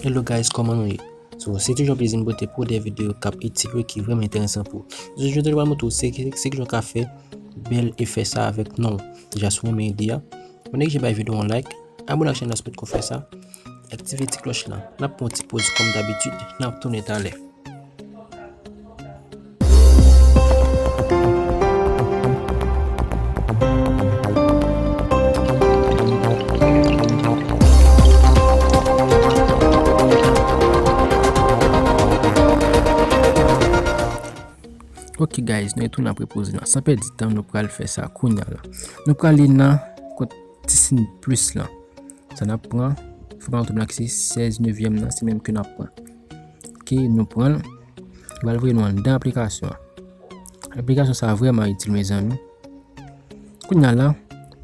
Hello guys, koman nou ye? So, se toujou yon plezi m pote pou de videyo k ap itil ou e ki vreman enteresan pou ou. Jodi yo te dwa moutre ou se ki se ki jan w ka fè bèl efè sa avèk non w. Deja si w renmen ide a, mwen egzije bay videyo an like, abone ak chènèl la si w pa t ko fè sa, aktive ti klòch lan. N ap pran yon ti poz kòm dabitid, n ap tounen talè. Ok guys, nou e tou nan prepoze nan. San pedi tan, nou pral fè sa kounya la. Nou pral li nan kont tisin plus lan. Sa nan pran, fè pa nan tout nan ki se 16 nevyèm nan, se menm ke nan pran. Ok, nou pran. Bal voye nou andan aplikasyon. Aplikasyon sa vreman itil me zanmi. Kou nan la,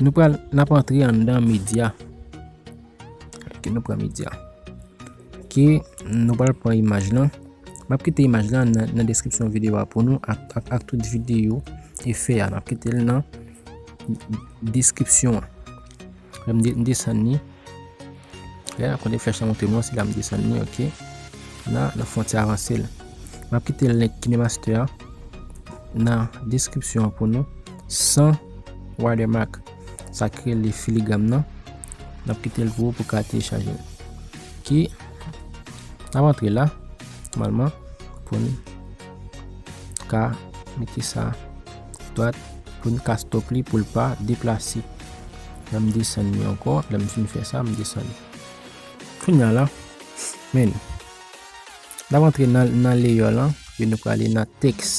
nou pral nap antre andan media. Ki nou pran media. Ki nou pral pran imaj lan. Map kite imaj lan nan deskripsyon videyo a pou nou ak tout videyo e fe a. Map kite l nan deskripsyon an. M desann ni. Lè nan konde flèch la montre mwen se la m desann ni ok. Nan nan fon ti avanse l. M ap kite link kinemaster an nan deskripsyon an pou nou san watermark. Sa k rele filigram nan. N ap kite l pou ou pou ka telechaje l. Ki nan antre la. Malman pou nou. ka mete sa dwat pou n ka stop li pou l pa deplase lè m desann li ankò lè m fin fè sa m desann li kounya la men n ap antre nan leyò lan e nou prale nan tèks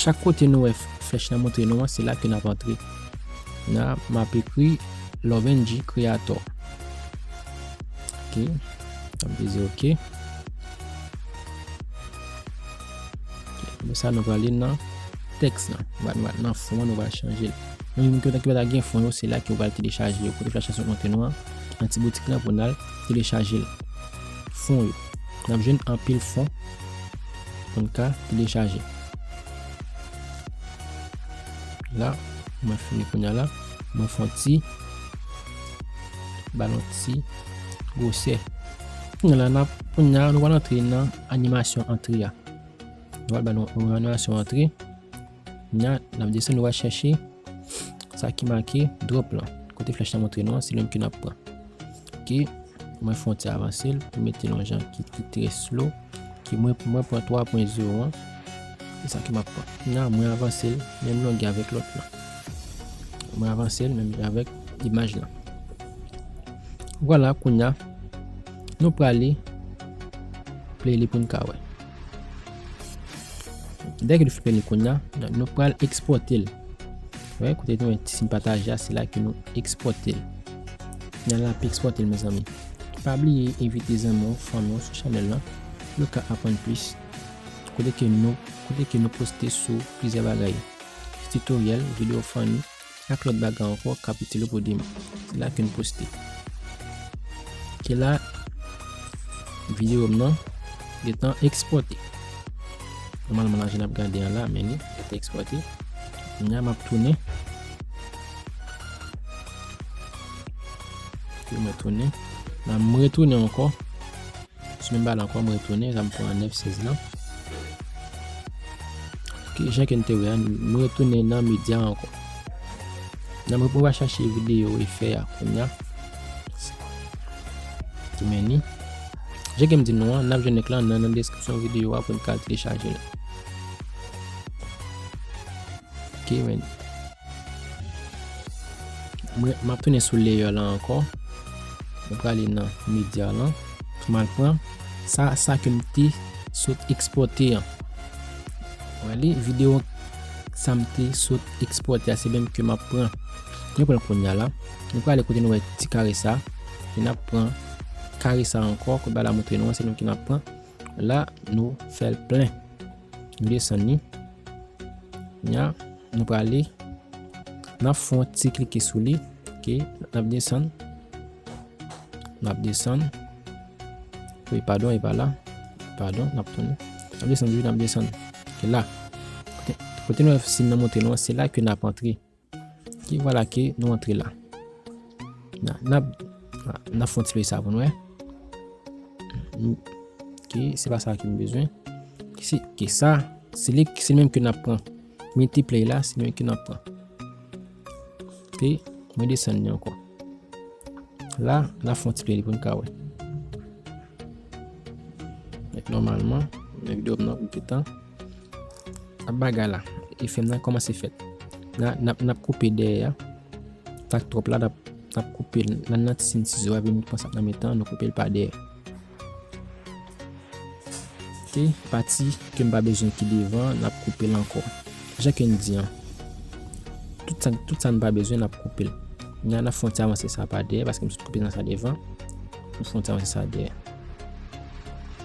chak kote nou wè flèch la montre nou an se la ke n ap antre la m ap ekri lovenji kreatò ok m ap di ok Apre sa, nou prale nan tèks lan. Nan fon an, nou va chanje l. Nou menm ki yo ta ki pa ta gen fon yo, se la ki yo pral telechaje yo. Kote aplikasyon konte nou an, nan ti boutik lan pou n al telechaje l. Fon yo. N ap jwenn anpil fon pou n ka telechaje. La, mwen fini kounye a la. Mwen fon ti balon ti gwosè. Kounya nap kounya nou pral antre nan animasyon antre a. Nou pral ba nou yon animasyon antre. Kounya nap desen nou va chèche sa ki make drop lan. Kote flèch la montre nou an se li menm ke nap pran. Ok, mwen fon ti avanse l pou mete yon jan ki ki tre slow. Ok, mwen mwen pran 3.0 an. Se sa ki map pran. Kounya mwen avanse l menm longè avèk lòt lan. Mwen avanse l menm longè avèk imaj lan. Vwala kounya. Nou prale play li poun ka wè. Dèke nou fini kounya, nou pral ekspòte l. Wè, kote nou yon ti sin pataje a, se la ke nou ekspòte l. N al ap ekspòte l, mezanmi. Pa bliye envite zanmi w, fanmi w sou chanèl lan, pou yo ka aprann plis. Kote ke nou, kote ke nou poste sou plizyè bagay. Titoryèl, videyo fanni, Ak lòt bagay ankò kap itil ou pou demen. Se la ke m poste. Ke la videyo m nan gentan ekspòte. Nòmalman la jan nap gade an la men li gentan ekspòte. Kounya map tounen. Mwen tounen. Mwen retounen ankò. Sou menm balon ankò, mwen retounen, la m pran 9, 16 lan. Ok, jan ke n te wè an, mwen retounen nan medya ankò. Nan mwen pou va chache videyo e fè a kounya. Ti meni. Jan ke m di nou an, nan jwen link lan nan nan deskripsyon videyo a pou n ka telechaje l. Ok, meni. M ap tounen sou layer lan ankò. M prale nan media lan. M al pran sa, sa ke m te sot ekspòte an. Wè li, video sa m te sot ekspòte a se menm ke m ap pran. Nou pran l kounya la. Nou prale kote nou wè ti kare sa. E n ap pran kare sa ankò. Kout ba la moutre nou an se nou ki n ap pran. La nou fè l plen. Nou desann li. Nya nou prale nan fon ti klike sou li ok nap desann nap desann e padon e pa la padon nap tounen nap desann toujou nap desann e la kote nou wè sim nan monte nou an se la ke nap antre Ok, voilà ke nou antre la. Nan fon ti pey sa pou nou e. Ok, se pa sa ki m bezwen. Ok, sa, se li ki se menm ke nan pran. Meti play la, se menm ke nan pran. Ok, mwen desen ni anko. La, nan fon ti pey pou nou ka we. Normalman, mwen videyo mnen pou ki tan. Ap bagay la, e fèm nan kòmanse fèt. Nan ap koupe dèyè a, tak twòp la nan ap koupe nan nan tisin sizo a, vin kòmanse ap nan mitan, nan koupe l pa dèyè. Te, pati ke m pa bezwen ki devan, nan ap koupe l ankò. Jan ke n di an, tout sa n pa bezwen nan ap koupe l. Nan ap fon ti avanse sa pa dèyè, paske m sot koupe nan sa devan, m fon ti avanse sa dèyè.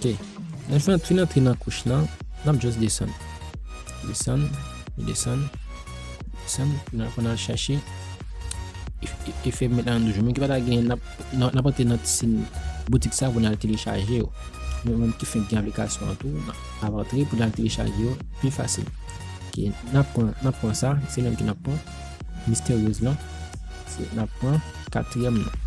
Ok Lè fè fin antre nan kouch lan Nap just desann Desann Desann Desann Pou nal chache Efè met la nan doujou Mwen ki pata gen Nap antre nan ti sin Boutik sa pou nal telechaje yo Mwen menm ki fenk gen aplikasyon an tou Nap antre pou nal telechaje yo Pi fasil Ok Nap pran Nap pran sa Se menm ki nap pran Misterieuse lan Nap pran Katriyèm nan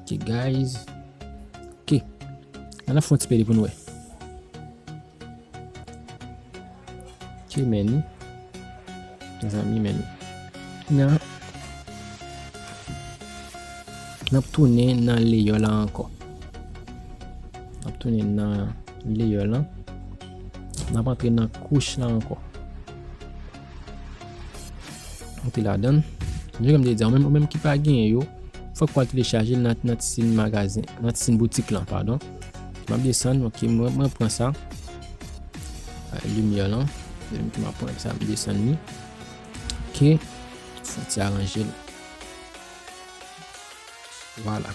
Ok guys. Ok. An ap fon ti pede pou nou e. Ok meni. Zan mi meni. Nan. Nan ap tounen nan le yo la anko. Nan ap tounen nan le yo la. Nan ap antre nan kouch la anko. Ou te la dan. Jou kèm te di an, ou menm ki pa gen yo, fòk wal te le chaje nan ti sin magazen, nan ti sin boutik lan, padon. Map de san, ok, mwen pran sa. A, lumiè lan. Mwen menm ki map pran sa, mwen de san ni. Ok. Fon ti aranjel. Vwala.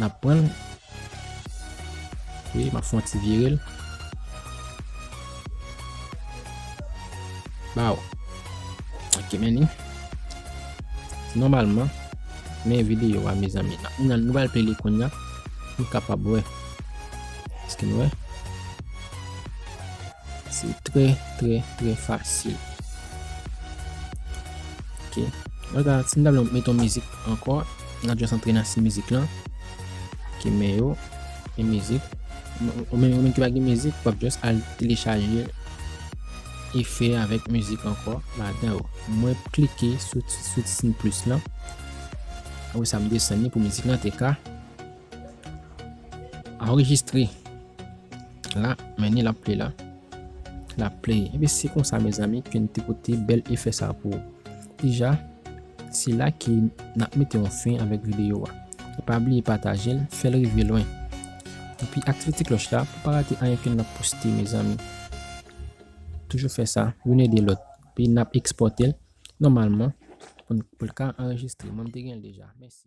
Nap pranl. Wi map fon ti virel. Baw. Ok men ni. Normalman. Men video a mezan mi. Nan nou bal peli koun ya. Nou kapab we. Eske nou we. Se tre tre tre fasil. Ok. Mwen ta. Sin ta blan met yon mizik anko. Nan just antre nan si mizik lan. Ok men yo. Gen mizik. Ou men ou men ki pa gen mizik. Wap just al telechaje. E fe avek mizik anko. Ladan yo. Mwen klike sou ti sin plus lan. Ou sa m desen ni pou mizik lan te ka. Enregistre. La men ni lap play la. Lap play. Ebe se konsa mezanmi. Ke n te pote bel efesa pou. Deja, se la ke nap mete yon fen avèk videyo a. E pa bliye patajel, fèl rive lwen. Epi aktive ti klòch la pou pa rate anyen ke nap poste mezanmi. Toujou fè sa, youn ede lòt. Epi nap ekspòtel, nòmalman, poun poul ka anrejistre. Mwen te genl deja. Mèsi.